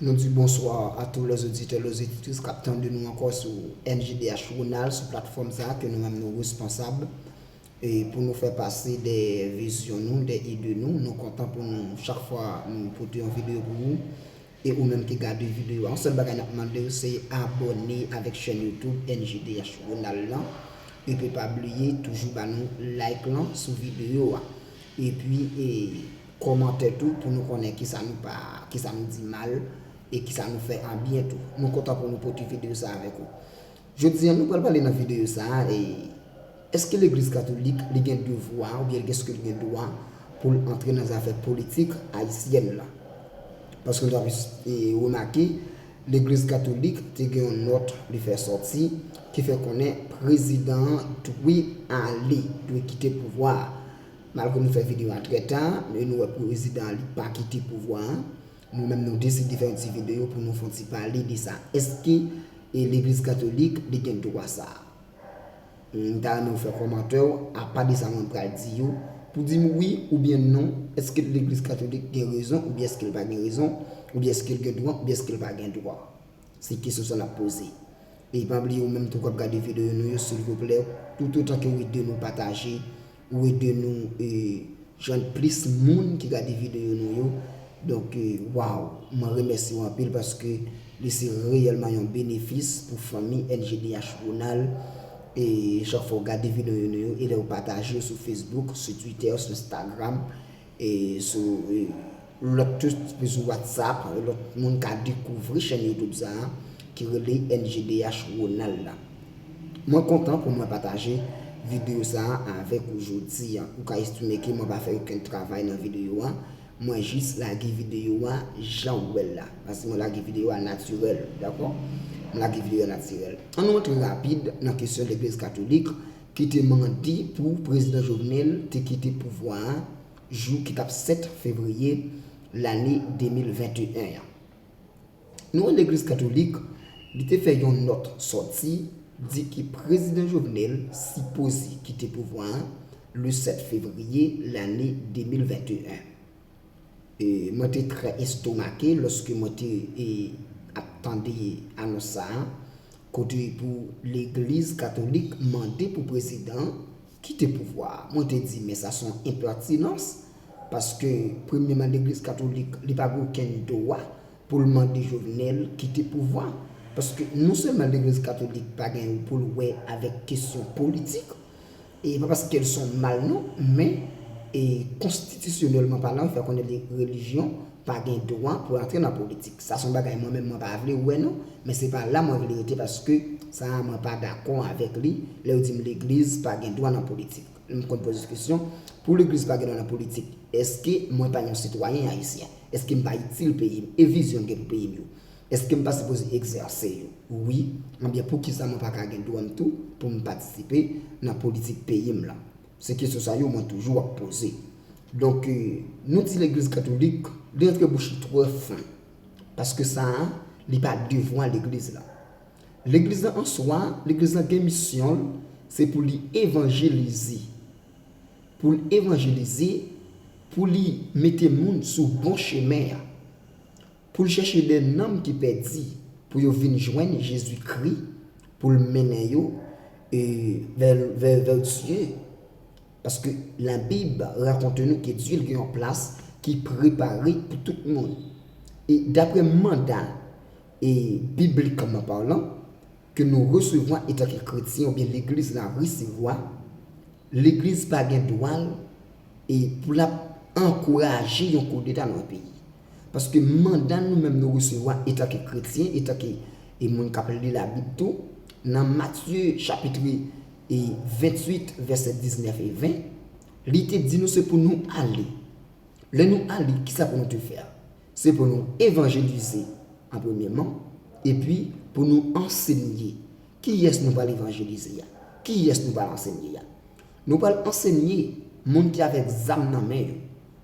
Nou di bonswa a tou lè zoditè lè zoditrice kap tande nou ankò sou MJDH Ronald sou platfòm sa ke nou menm nou responsab e pou nou fè pase de vizyon nou, de ide nou, nou kontan pou nou chak fwa nou pote yon videyo pou ou e ou menm ki gade videyo a yon sèl bagay nap mandew se abòne avèk chèn YouTube MJDH Ronald lan epi pa bliye toujou ba nou like lan sou videyo a epi e. Komante tou pou nou konnen kisa nou pa, kisa nou di mal e kisa nou fè an byen tou. Nou kontan pou nou pote videyo sa avèk ou. Jodi an nou pral pale nan videyo sa a e Eske legliz katolik li gen devwa ou byen eske li gen dwa pou l antre nan zafè politik ayisyèn la? Paske nou ta remake legliz katolik te gen yon nòt li fè sòti ki fè konnen prezidan an dwe ale, dwe kite pouvwa a. Malgre nou fè video an trè ta, men nou wè prezidan an li pa kite pouvwa an, nou menm nou deside fè yon ti video pou nou fon ti pale de sa. Eske legliz katolik li gen dwa sa? M ta renmen ou fè kòmantè ou apa de sa mwen pral di yo pou di m wi oubyen non eske legliz katolik gen rezon oubyen eske l pa gen rezon oubyen eske l gen dwa oubyen eske l pa gen dwa. Se kesyon sa n ap poze. E pa bliye ou menm tou k ap gade video nou yo silvouplè toutotan ke ou ede nou pataje Ou ede nou jwenn plis moun ki gade videyo nou yo. Donk waw mwen remèsye w anpil paske li se reyèlman yon benefis pou fanmi NGDH Ronald e chak fwa w gade videyo nou yo e lè w pataje yo sou Facebook, sou Twitter, sou Instagram e sou. Lòt tou sou WhatsApp lòt moun ka dekouvri chèn YouTube sa a ki rele MGDH Ronald la. Mwen kontan pou mwen pataje videyo sa a avèk ou jodi a. Ou ka estime ke mwen pa fè okenn travay nan videyo a, mwen jis lage videyo a jan ou wè l la. Paske mwen lage videyo a natirèl, dakò? Mwen lage videyo a natirèl. An nou antre rapid nan kesyon legliz katolik ki te mande pou Prezidan Jovenel te kite pouvwa a, jou ki t ap 7 fevriye lane 2021 an. Nou wè legliz katolik li te fè yon nòt sòti di ke prezidan Jovenel sipoze kite pouvwa a le 7 fevriye lane 2021. E mwen te trè estomake lòske mwen te ap tande anons sa a kote pou legliz katolik mande pou prezidan Kite pouvwa a. Mwen te di men sa son enpètinans paske premye man legliz katolik li pa gen okenn dwa poul mande Jovenel kite pouvwa paske non sèlman legliz katolik pa gen ou poul wè avèk kesyon politik e pa paskel son mal non men e konstitisyonèlman palan fè konnen li relijyon pa gen dwa pou antre nan politik sa son bagay mwen menm mwen pa vle wè non men se pa la mwen vle rete paske sa a mwen pa dakò avèk li lè yo dim legliz pa gen dwa nan politik m konn poze kesyon pou legliz pa gen dwa nan politik eske mwen pa yon sitwayen ayisyen eske m pa itil peyi m e vizyon m gen pou peyi m yo eske m pa sipoze egzèse yo wi enbyen poukisa mwen pa ka gen dwa m tou pou m patisipe nan politik peyi m lan se kesyon sa yo mwen toujou ap poze Donk nou di legliz katolik li antre bouch li twò fen paske sa a li pa devwa legliz la. Legliz la an swa, legliz la gen misyon l se pou li evanjelize, pou l evanjelize, pou li mete moun sou bon chemen an, pou l chèche de nanm ki pèdi pou yo vin jwenn Jezi Kri pou l mennen yo vè Dye. Paske Labib rakonte nou ke Dye gen yon plas ki prepare pou tout moun. E dapre manda, e biblikman palan, ke nou resevwa etanke kretyen oubyen legliz la resevwa, legliz pa gen dwa l e pou l ap ankouraje yon koudeta nan yon peyi. Paske manda nou menm nou resevwa etanke kretyen, etanke e moun k ap li Labib tou, nan Matye chapitre e 28 vèsè 19 e 20, li te di nou se pou nou ale. Lè nou ale, kisa pou nou te fè? Se pou nou evanjelize an premyèman, epi pou nou ansenye. Kiyès nou pral evanjelize a? Kiyès nou pral ansenye a? Nou pral ansenye moun ki avèk zam nan men yo,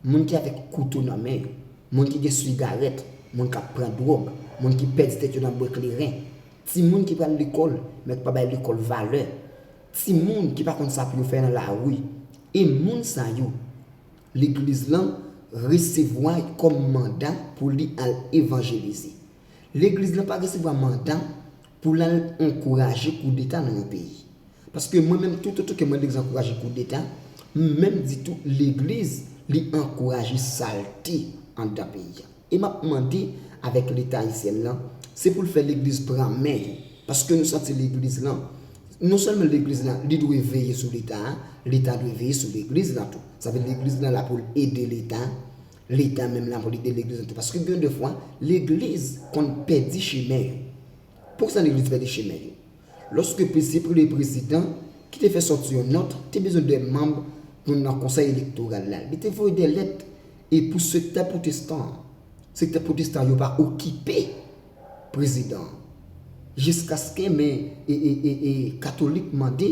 moun ki avèk kouto nan men yo, moun ki gen sigarèt, moun k ap pran dwòg, moun ki pèdi tèt yo nan bwè kleren, timoun ki pral lekòl men ki pa bay lekòl valè, timoun ki pa konn sa pou yo fè nan lari. E moun sa yo, legliz lan resevwa kòm manda pou li al evanjelize. Legliz lan pa resevwa manda pou l al ankouraje koudeta nan yon peyi. Paske mwen menm toutotan ke mwen dezankouraje koudeta, m menm di tou legliz li ankouraje salte anndan peyi a. E m ap mande avèk leta Ayisyen lan, se pou l fè legliz pran men yo. Paske nou santi legliz lan, non sèlman legliz lan li dwe veye sou leta a, leta dwe veye sou legliz lan tou. Sa vle di legliz lan la pou l ede leta Leta menm la pou li delegle zantray paske gen de fwa legliz konn pèdi chemen yo. Poukisa legliz pèdi chemen yo? Lòske pwese premye prezidan ki te fè sòti yon nòt te bezwen 2 manb pou nan konsèy elektoral la li te voye 2 lèt e pou sektè pwotestan an sektè pwotestan yo pa okipe prezidan an jiskaske men e katolik mande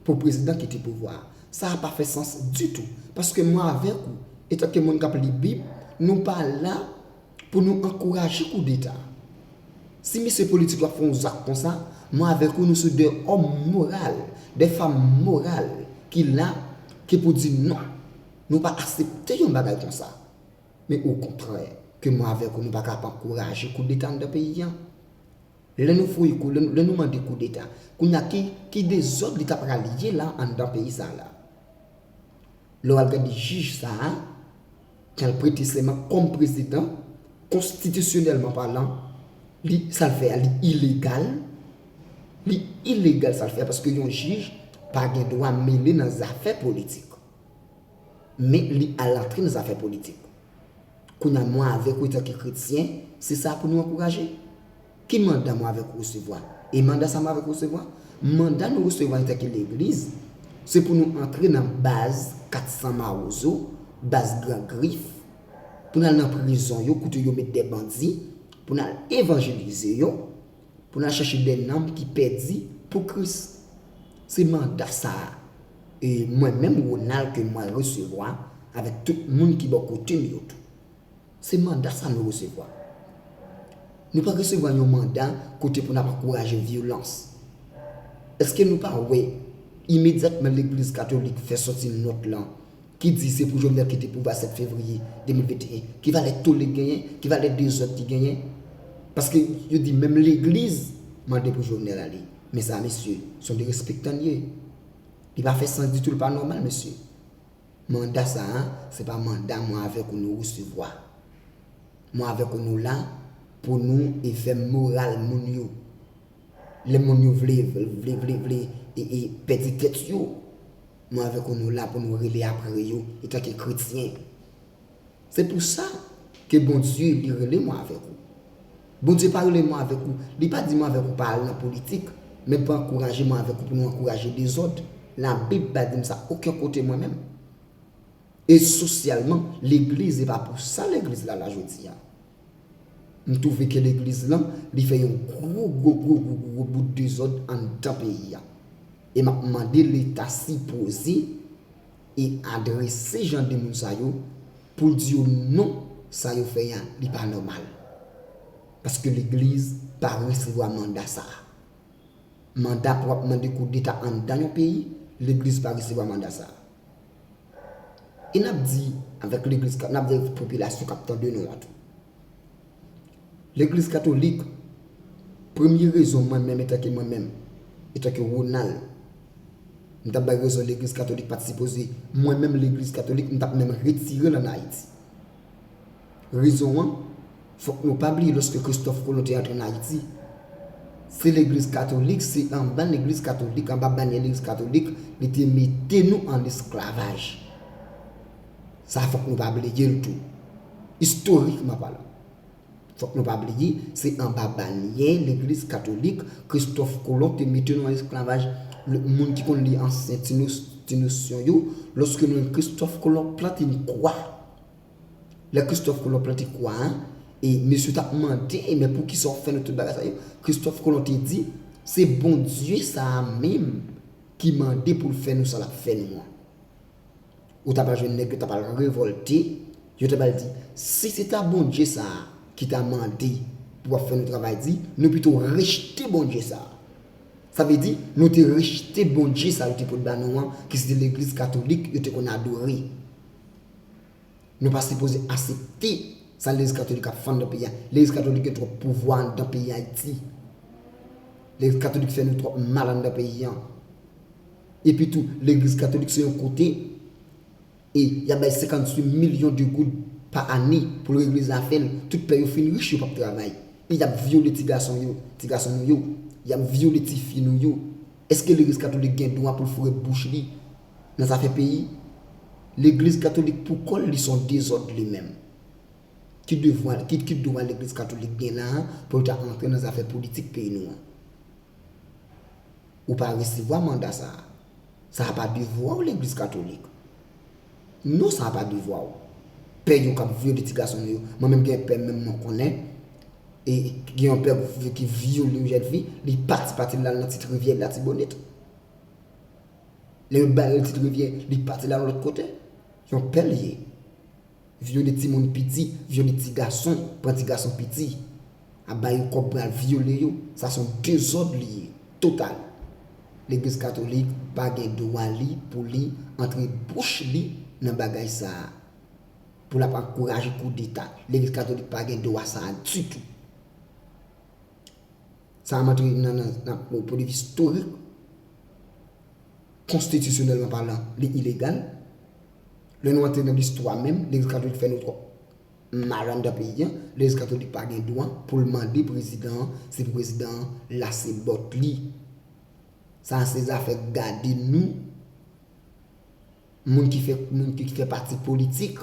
pou prezidan kite pouvwa a. Sa a pa fè sans ditou, paske mwen avèk ou, etanke moun k ap li Bib, nou pa la pou nou ankouraje koudeta. Si mesye politik yo ap fè yon zak konsa, mwen avèk ou nou sou de òm moral, de fam moral ki la ke pou di non, nou pa asepte yon bagay konsa. Men okontrè, ke mwen avèk ou nou pa ka ap ankouraje koudeta anndan peyi an. Lè nou voye kou, lè nou mande koudeta, kounye a ki, ki dezòd li ta pral ye la anndan peyi sa a la? Lè w al gade jij sa a, ki al prete sèman kòm prezidan, konstitisyonèlman palan, li, sa l fè a li ilegal, li ilegal sa l fè a paske yon jij pa gen dwa mele nan zafè politik. Men li al antre nan zafè politik. Kounye a, mwen avèk ou etanke kretyen, se sa pou nou ankouraje. Ki manda mwen avèk ou resevwa? E manda sa mwen avèk ou resevwa? Manda nou resevwa etanke legliz, se pou nou antre nan baz 400 mawozo, baz gran grif, pou n al nan prizon yo kote yo met de bandi, pou n al evanjelize yo, Pou n al chèche dè nanm ki pèdi pou Kris. Se manda sa a, e mwen menm Ronald ke mwen resevwa, avèk tout moun ki bò kote m yo tou. Se manda sa nou resevwa. Nou pa resevwa yon manda kote pou n ap ankouraje vyolans. Eske nou pa wè imedyatman legliz katolik fè sòti nòt lan ki di se pou Jovenel kite pouvwa 7 fevriye 2021, ki valè tole ki genyen, ki valè dezòd ki genyen, paske yo di menm legliz mande pou Jovenel ale, men sa mesye, son derespektan li ye, li pa fè sans ditou, li pa nòmal mesye, manda sa a, se pa manda mwen avèk ou nou resevwa, mwen avèk ou nou la pou nou efè moral moun yo, lè moun yo vle, vle, vle, vle, e, e, pèdi tèt yo. Mwen avèk ou nou la pou nou rele apre yo etanke kretyen. Se pou sa ke Bondye li rele mwen avèk ou. Bondye pa rele mwen avèk ou, li pa di mwen avèk ou pa al nan politik, men pa ankouraje mwen avèk ou pou nou ankouraje dezòd. Labib pa di m sa oken kote mwen menm. E sosyalman, legliz e pa pou sa legliz la la jodi a. M twouve ke legliz lan li fè yon gwo gwo gwo gwo gwo gwo bout dezòd anndan peyi a. E m ap mande leta sipoze e adrese jan de moun sa yo pou l di yo non sa yo fè an li pa nòmal. Paske legliz pa resevwa manda sa a. Manda pou ap mande koudeta anndan yon peyi, legliz pa resevwa manda sa a. E n ap di avèk legliz ka, n ap di avèk popilasyon k ap tande nou an tou. Legliz katolik, premye rezon mwen menm etanke mwen menm, etanke Ronald, m ta bay rezon legliz katolik pa t sipoze, mwen menm legliz katolik m ta p menm retire l ann Ayiti. Rezon an, fòk nou pa bliye lòske Kristòf Kolon te antre nan Ayiti, se legliz katolik, se anba legliz katolik, anba banyè legliz katolik li te mete nou an lesklavaj. Sa fòk nou pa bliye l tou. Istorikman palan. Fòk nou pa bliye, se anba banyè legliz katolik Kristòf Kolon te mete nou an lesklavaj. Moun ki konn li ansyen ti nosyon yo, lòske nou li Kristòf Kolon plante yon kwa. Lè Kristòf Kolon plante kwa a, e mesye yo t ap mande, Men poukisa w fè nou tout bagay sa yo? Kristòf Kolon te di, Se Bondye sa a menm ki mande pou l fè nou sa l ap fè nou an. Ou ta pral jwenn nèg yo ta pral revòlte, yo ta pral di, Si se ta Bondye sa a ki ta mande pou ap fè nou travay di, nou pito rejte Bondye sa a. Sa vle di, nou te rejte Bondye sa a yo te pot ba nou an, ki se te legliz katolik yo te konn adore. Nou pa sipoze asepte sa legliz katolik ap fè andan peyi a. Legliz katolik gen twòp pouvwa andan peyi Ayiti. Legliz katolik fè nou twòp mal andan peyi an. Epi tou, legliz katolik se yon kote e y ap bay 58 milyon de goud pa ane pou l regle zafè l. Tout pè yo fin rich yo p ap travay. E y ap vyole ti gason yo, ti gason nou yo. Y ap vyole ti fi nou yo. Eske legliz katolik gen dwa pou l foure bouch li Nan zafè peyi, legliz katolik pou kòl li son dezòd li menm. Ki devwa, ki dwa legliz katolik gen la a pou l ta antre nan zafè politik peyi nou an? Ou pa resevwa manda sa a. Sa a pa devwa w legliz katolik. Non sa a pa devwa w. Pè yo k ap vyole ti gason nou yo, mwen menm gen pè menm mwen konnen, e gen yon pè ki vyole yon jèn fi, li pati pati l al nan ti rivyè latibonit. Lè yo bare l ti rivyè li pati la yon lòt kote. Yon pè l ye. Vyole timoun piti, vyole ti gason, pran ti gason piti. Ap ba yo kòb pou y al vyole yo. Sa son dezòd li ye. Total. Legliz katolik pa gen dwa li pou li antre bouch li nan bagay sa a. Pou l ap ankouraje koudeta. Legliz katolik pa gen dwa sa a ditou. Sa ap antre nan nan politik istorik, konstitisyonèlman palan, li ilegal. Lè nou antre nan listwa menm, legliz katolik fè nou twòp mal anndan peyi an. Legliz katolik pa gen dwa pou l mande prezidan an, se pou prezidan an lase bòt li. Sa a se zafè gade nou, moun ki fè pati politik.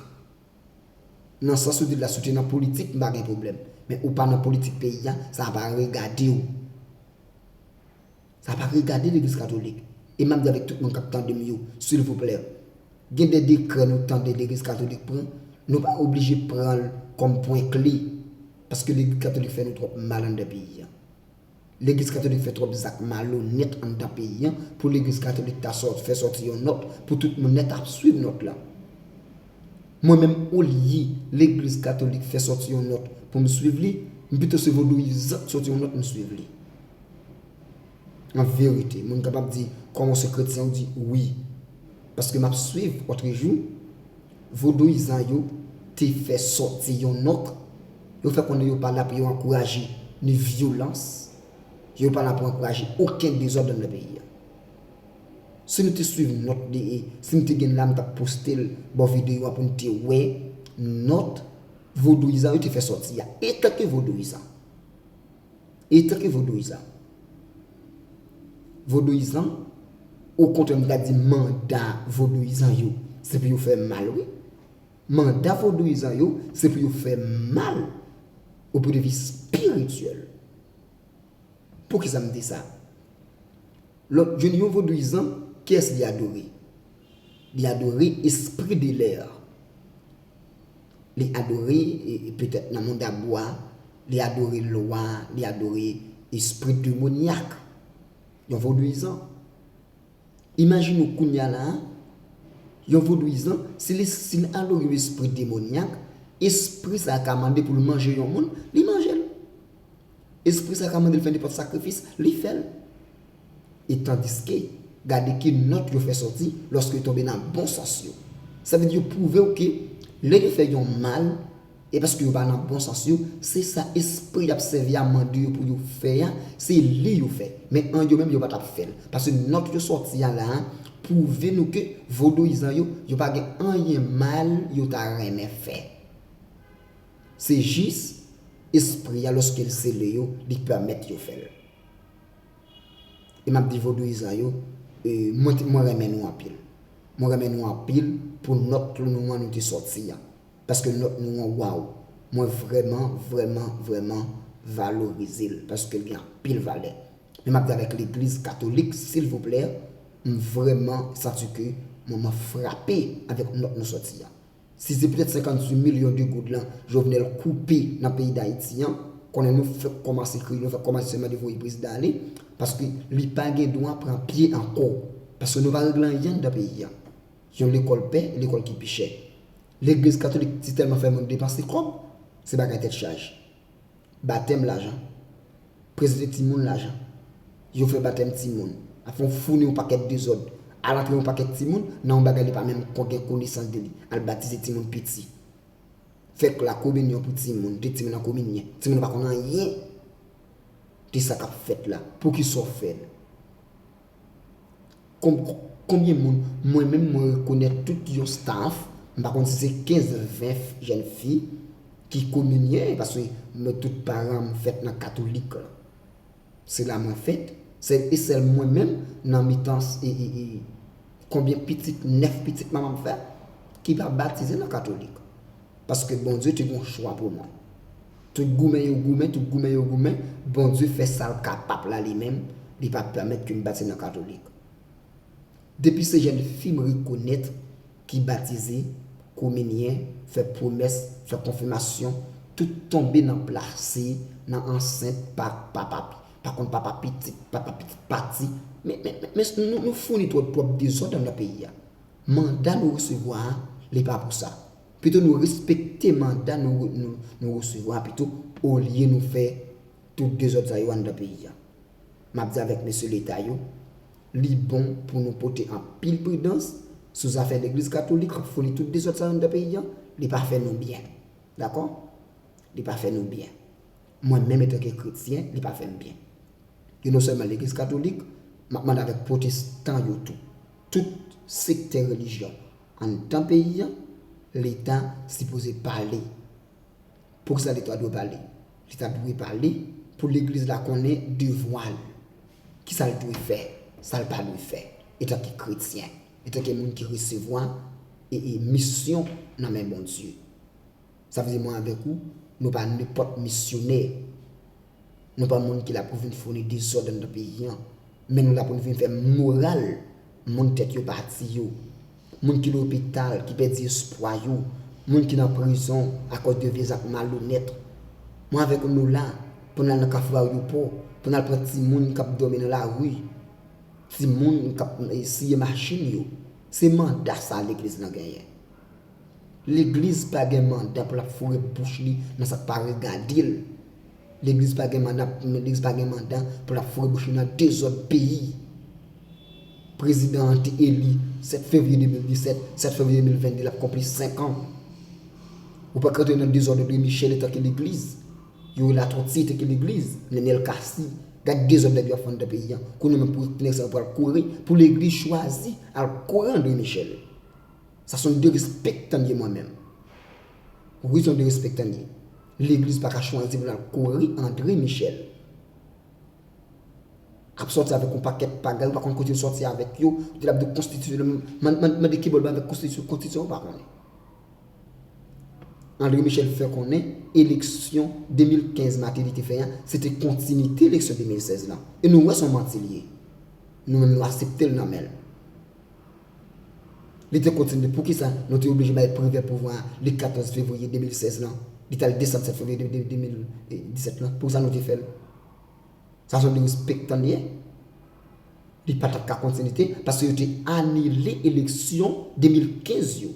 Nan sans ou di l la si w te nan politik m pa gen pwoblèm. Men ou pa nan politik peyi a, sa pa regade w. Sa pa regade legliz katolik. E m ap di avèk tout moun k ap tande m yo, silvouplè, gen de dekrè nou tande legliz katolik pran, nou pa oblije pran l kòm pwen kle. Paske legliz katolik fè nou twòp mal anndan peyi a. Legliz katolik fè twòp zak malonèt anndan peyi an pou legliz katolik ta sòt fè sòti yon nòt pou tout moun nèt ap swiv nòt la. Mwen menm olye legliz katolik fè sòti yon nòt pou m swiv li, m pito se vodouyizan k sòti yon nòt m swiv li. An verite, moun kapab di kòman w se kretyen w di wi paske m ap swiv otrejou Vodouyizan yo te fè sòti yon nòt, yo fè konnen yo pa la pou yo ankouraje ni vyolans, yo pa la pou ankouraje oken dezòd anndan peyi a. Si nou te swiv nòt li e si m te gen l la m t ap poste l bò videyo a pou n te wè nòt vodouyizan yo te fè sòti a etanke vodouyizan. E tanke vodouyizan. Vodouyizan, okontrè m ta di manda vodouyizan yo, se pou yo fè mal wi. Manda vodouyizan yo, se pou yo fè mal o pwen de vi spirityèl. Pou ki sa m di sa? Lò jwenn yon vodouyizan, kiyès li adore? Li adore espri de lè a. Li adore, petèt nan mond a bwa, li adore lwa, li adore espri demonyak, yon vodouyizan. Imajine w kounye a la a, yon vodouyizan, si l alore yon espri demonyak, espri sa a ka mande pou l manje yon moun, li manje l. Espri sa a ka mande l fè nenpòt sakrifis, li fè l. E tandiske, gade ki nòt yo fè sòti lòske yo tonbe nan bon sans yo. Sa vle di yo pwouve w ke lè yo fè yon mal, e paske yo pa nan bon sans yo, se sa espri y ap sèvi a mande yo pou yo fè a, se li yo fè. Men an yo menm yo pa t ap fè l. Paske nòt yo sòti a la a pwouve nou ke vodouyizan yo, yo pa gen anyen mal yo ta renmen fè. Se jis espri a lòske l sele yo, li pèmèt yo fè l. e map di vodouyizan yo mwen renmen nou anpil mwen renmen nou anpil pou nòt nou an nou te sòti an paske nòt nou an waw mwen vrèman vrèman vrèman valorizel paskel gen anpil valè men map di avèk legliz katolik silvouplè m vrèman santi ke mwen frape avèk nòt nou sòti an Si se petèt 58 milyon de goud lan Jovenel koupe nan peyi Dayiti an, konnen nou fèk kòmanse kriye, nou fèk kòmanse sèlman de voye prezidan ale, paske li pa gen dwa pran pye ankò. Paske nou pa regle anyen anndan peyi an. Yon lekòl pè, lekòl ki pi chè. Legliz katolik si tèlman fè moun depanse kòb, se bagay tèt chaje. Batèm lajan. Prezante timoun lajan. Yo fè batèm timoun. Apre ou founi yon pakèt dezòd. Al antre yon pakèt timoun nan yon bagay li pa menm kon gen konesans de li. Al batize timoun piti. Fè lakominyon pou timoun. Mete timoun nan kominyen. Timoun nan pa konn anyen de sa k ap fèt la. Poukisa ou fè l? Konbyen moun mwen menm mwen rekonèt tout yon staff, m pa konn si se 15, 20 jèn fi ki kominyen paske mwen tout paran m fèt nan katolik. Se la mwen fèt, sèl e sèl mwen menm nan mitan konbyen pitit, 9 pitit manman m fè ki pa batize nan katolik. Paske Bondye te gen yon chwa pou mwen. Tout goumen yo goumen, tout goumen yo goumen, Bondye fè sa l kapab la li menm, li pa pèmèt ke m batize nan katolik. Depi se jèn fi m rekonèt ki batize, kominyen, fè pwomès, fè konfimasyon, tout tonbe nan plase, nan ansent, pa papa, pa konn papa pitit, papa pitit pati, men, men, men, nou founi twòp, twòp dezòd anndan peyi a. Manda nou resevwa a, li pa pou sa. Pito nou respekte manda nou resevwa pito olye nou fè tout dezòd sa yo anndan peyi a. M ap di avèk mesye leta yo, li bon pou nou pote anpil pridans sou zafè legliz katolik ap founi tout dezòd sa yo anndan peyi a, li pa fè nou byen. Dakò? Li pa fè nou byen. Mwen menm etanke kretyen, li pa fè m byen. E non sèlman legliz katolik, m ap mande avèk pwotestan yo tou, tout sektè relijyon, Anndan peyi an, leta sipoze pale. Poukisa leta dwe pale? Leta dwe pale pou legliz la konnen devwa l. Kisa l dwe fè, sa l pa dwe fè etanke kretyen, etanke moun ki resevwa misyon nan men Bondye. Sa vle di mwen avèk ou, nou pa nenpòt misyonè. Nou pa moun ki la pou vin founi dezòd anndan peyi an, men nou la pou n vin fè moral moun tèt yo pati yo, moun ki lopital, ki pèdi espwa yo, moun ki nan prizon akòz de vye zak malonèt. Mwen avèk ou nou la pou n al nan kafou Aryopò, pou n al pran timoun k ap dòmi nan lari, timoun k ap siye machin yo. Se manda sa legliz lan genyen. Legliz pa gen mandan pou lap foure bouch li nan sak pa regadel. Legliz pa gen mandan legliz pa gen mandan pou lap foure bouch li nan dezòd peyi. Prezidan an te eli 7 fevriye 2017, 7 fevriye 2022 lap konpli 5 an. Ou pa ka rantre nan dezòd Andre Michel etan ke legliz. Youri Latortue te ki legliz, Nenel Cassy. Gad dezòd nèg yo ap fè anndan peyi an. Kounye menm pou nèg sa yo pral kouri pou legliz chwazi al kore Andre Michel. Sa son derespektanye mwen menm. Wi son derespektanye. Legliz pa ka chwazi pou lal kori Andre Michel. Kap soti avek yon paket pagay ou pa konn kote yo soti avek yo. Di lap de konstitisyon. Mande kibol ba avek konstitisyon. Konstitisyon ou pa konnen. Andre Michel fè konnen eleksyon 2015 Mateli te fè an se te kontinite eleksyon 2016 lan. E nou wè son manti li ye. Nou menm nou aseptel nan menl. Li te kontinye, Poukisa nou te oblije bay Privè pouvwa a li 14 fevriye 2016 lan? Li te al desann 7 fevriye 2017 lan. Poukisa nou te fè l? Sa se yon derespektan li ye. Li pa t ap ka kontinite paske yo te anile eleksyon 2015 yo.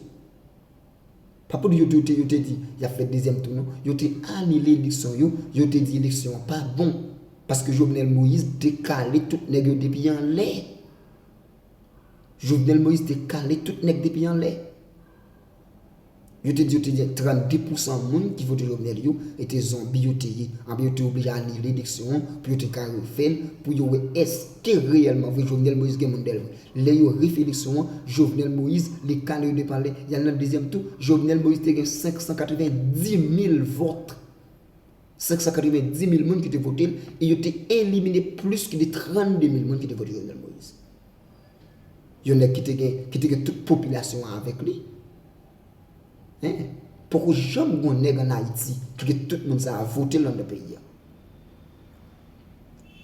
Pa pou di yo te yo te di y ap fè dezyèm tou non. Yo te anile eleksyon yo, yo te di eleksyon an pa bon paske Jovenel Moïse te kale tout nèg yo depi anlè. Jovenel Moïse te kale tout nèg depi anlè. Yo te di yo te gen 32 pousan moun ki vote Jovenel yo ete zonbi yo te ye. Anben yo te oblije anile eleksyon an pou yo te ka refè l pou yo wè èske reyèlman vre Jovenel Moïse gen moun dèyè l vre. Lè yo refe eleksyon an, Jovenel Moïse li kale yo depi anlè, y al nan dezyèm tou, Jovenel Moïse te gen 590 mil vòt. 590 mil moun ki te vote l e yo te elimine plis ki de 32 mil moun ki te vote Jovenel Moïse. Yon nèg ki te gen ki te gen tout popilasyon an avèk li. Hein? Poko janm gon nèg an Ayiti ki gen tout moun sa a vote l anndan peyi a.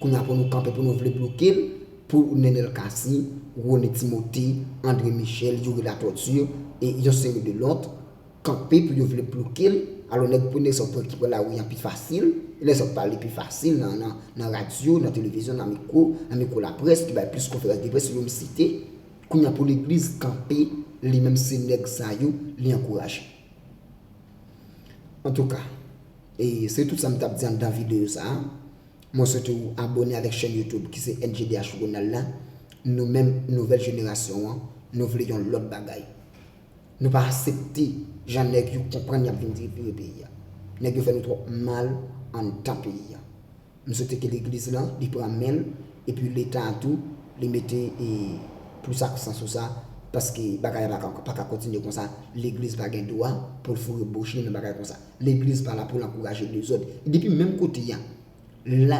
Kounya pou nou kanpe pou nou vle bloke l pou Nenel Cassy, Rony Timothé, André Michel, Youri Latortue e yon seri de lòt kanpe pou yo vle bloke l, alò nèg pou nèg sa w pran ki pran lari an pi fasil, e nèg sa w pale pi fasil nan radyo, nan televizyon, nan mikwo, nan mikwo laprès ki bay plis konferans de près yo m site, kounya pou legliz kanpe li menm se nèg sa yo li ankouraje. Antouka e se tout sa m t ap di anndan videyo sa a. Mwen swete ou abone avèk chèn YouTube ki se NJDH Ronald la. Nou menm nouvèl jenerasyon an, nou vle yon lòt bagay. Nou pa asepte jan nèg yo konprann y ap vin tripire peyi a. Nèg yo fè nou twòp mal anndan peyi a. M swete ke legliz lan li pran menl epi leta a tou li mete plis aksan sou sa paske bagay la paka kontinye konsa legliz pa gen dwa poul foure bouch li nan bagay konsa legliz pa la poul ankouraje dezòd depi menm kote a la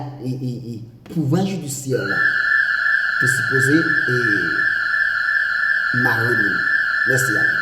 pouvwa jidisyè la te sipoze mare moun mèsi anpil.